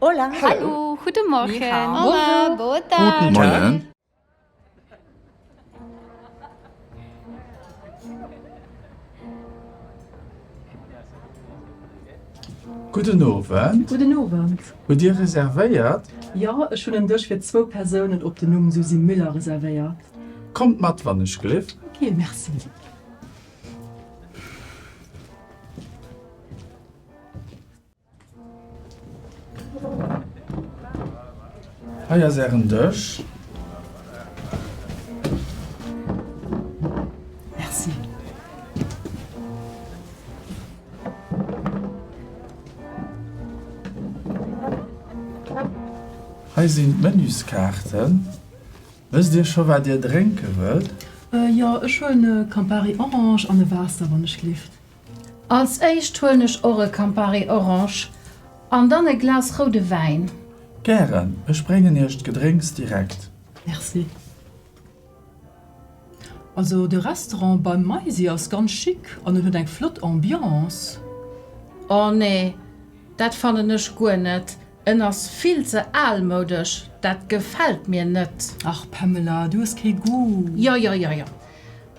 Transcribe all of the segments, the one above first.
Hola. Hallo. Guten Morgen. Ni hao. Hola. Boa tarde. Guten Morgen. Guten Owend. Guten Owend. Hutt Dir reservéiert? Jo, ech hunn en Dësch fir zwou Persounen op den Numm Susy Müller reservéiert. Kommt mat, wann ech gleef. Ok, merci. Hei ass ären Dësch. Merci. Hei sinn d'Menüskaarten. Wësst Dir scho wat Dir drénke wëllt? Jo, ech huelen e Campari Orange an e Waasser, wann ech lift. Als éischt huelen ech och e Campari Orange an dann e Glas roude Wäin. Gären, ech bréngen iech d'Gedrénks direkt. Merci. Also de Restaurant beim Maisi ass ganz chic an en huet eng flott Ambiance. Oh nee, dat fannen ech guer net. En ass vill ze aalmoudesch, dat gefällt mir net. Ach Pamela, du hues kee Goût. Jo jo jo jo.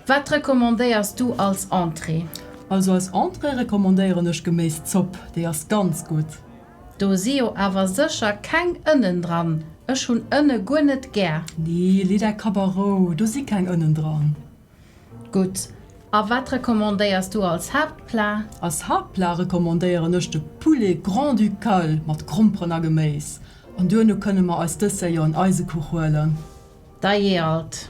Wat recommandéiers du als Entrée? Also als Entrée recommandéieren ech Geméiszopp, déi ass ganz gutt. Do si jo awer sécher keng Ënnen dran, ech hunn Ënne guer net gär. Nee, lee däi Kapp a Rou, do si keng Ënnen dran. Gutt. A wat recommandéiers du als Haaptplat? Als Haaptplat recommandéieren ech de Poulet Grand-Ducal mat Gromperen a Geméis. An duerno kënne mer eis Dessert jo en Eisekuch huelen. Da jee alt.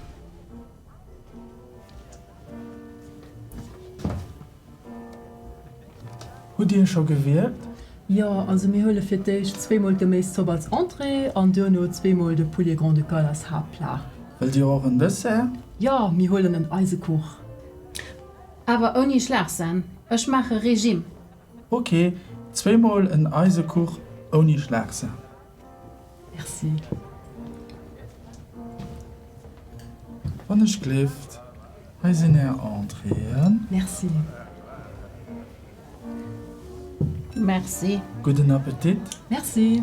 Hutt Dir scho gewierkt? Jo, also mir huele fir d'éischt zweemol d'Geméiszopp als Entrée an duerno zweemol de Poulet Grand-Ducal als Haaptplat. Wëllt Dir och en Dessert? Jo, mir huelen en Eisekuch. Awer ouni Schlagsen, ech maache Regime. Ok, zweemol en Eisekuch ouni Schlagsen. Merci. Wann ech gleeft, hei sinn är Entréeën. Merci. Merci. Gudden Appetit. Merci.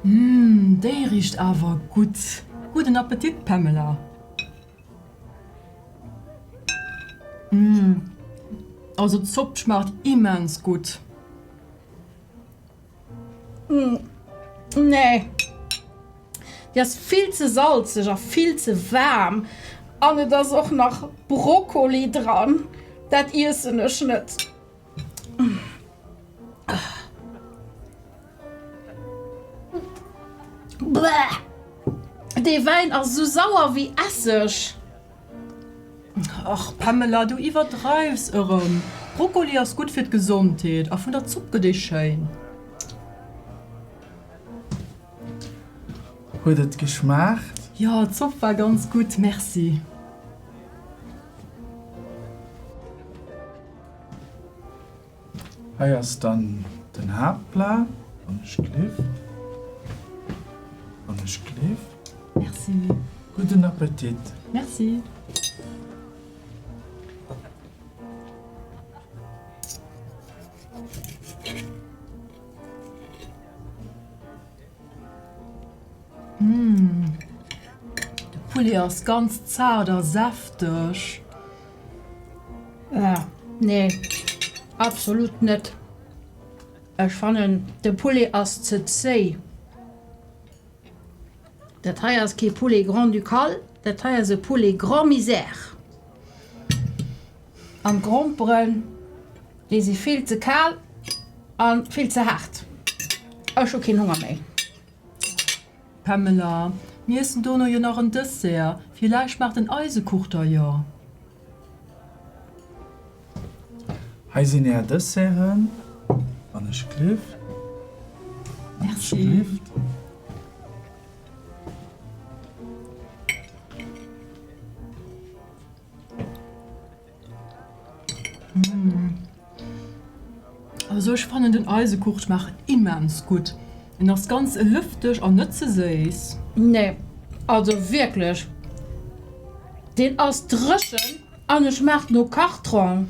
Umm, déi richt awer gutt. Gudden Appetit, Pamela. Umm, also d'Zopp schmaacht immens gutt. Mm, nee. Déi ass vill ze salzeg a vill ze waarm. An et ass och nach Brokkoli dran. Dat iessen ech net. Bäh! Dee Wäin ass esou sauer wéi Esseg. Ach Pamela, du iwwerdreiws erem. Brokkoli ass gudd fir d'Gesondheet, a vun der Zopp gëtt ee schéin. Huet et geschmaacht? Jo, d'Zopp war ganz gudd, merci. Hei ass dann den Haaptplat, wann ech gleef, wann ech gleef. Merci. Gudden Appetit. Merci. De Poulet ass ganz zart a säfteg. Nee, absolut net. Ech fannen de Poulet ass ze zéi. Dat hei ass kee Poulet grand-ducal, dat hei ass e Poulet grand-misère. an d'Gromperen déi si vill ze kal an vill ze haart. Ech hu keen Honger méi. Pamela, Mir iessen dono jo nach en Dessert, villäicht maacht den Eisekuch der jo. Hei sinn är Desserten, wann ech glift. Merci. Mmh. Also ech fannen den Eisekuch schmaacht immens gutt. En ass ganz lëfteg an net ze séiss. Nee, also wierklech, deen ass dréchen an e schmaacht no Kartong.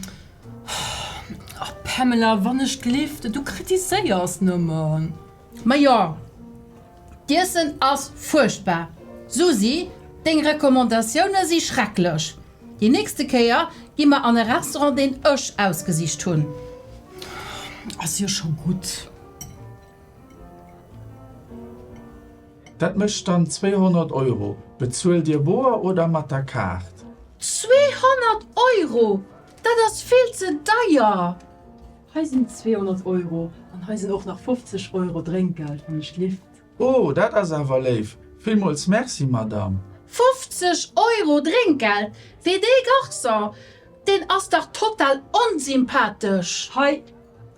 Pamela, wann ech gelift, du kritiséiers nëmmen. Majo, d'Iessen ass fuerchtbar. Susi, deng Recommandatioune si schrecklech. Déi nächste Kéier gi mer an e Restaurant, deen ech ausgesicht hunn. Ass jo scho gutt. Dat mécht dann 200 Euro. Bezuelt Dir boer oder mat der Kaart? 200 Euro, dat ass vill ze deier. Hei sinn 200 Euro an hei sinn och nach 50 Euro Drénkgeld wann ech lift. Oh, dat ass awer léif! Villmools Merci, Madame! 50 Euro Drénkgeld fir dee Garçon? Deen ass dach total onsympathesch! Hei,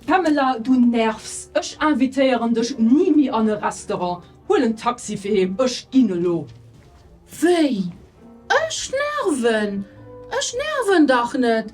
Pamela, du nervs! Ech invitéieren dech ni méi an e Restaurant. Huel en Taxi fir heem, ech ginn elo! Wéi? Ech nerven? Ech nerven dach net!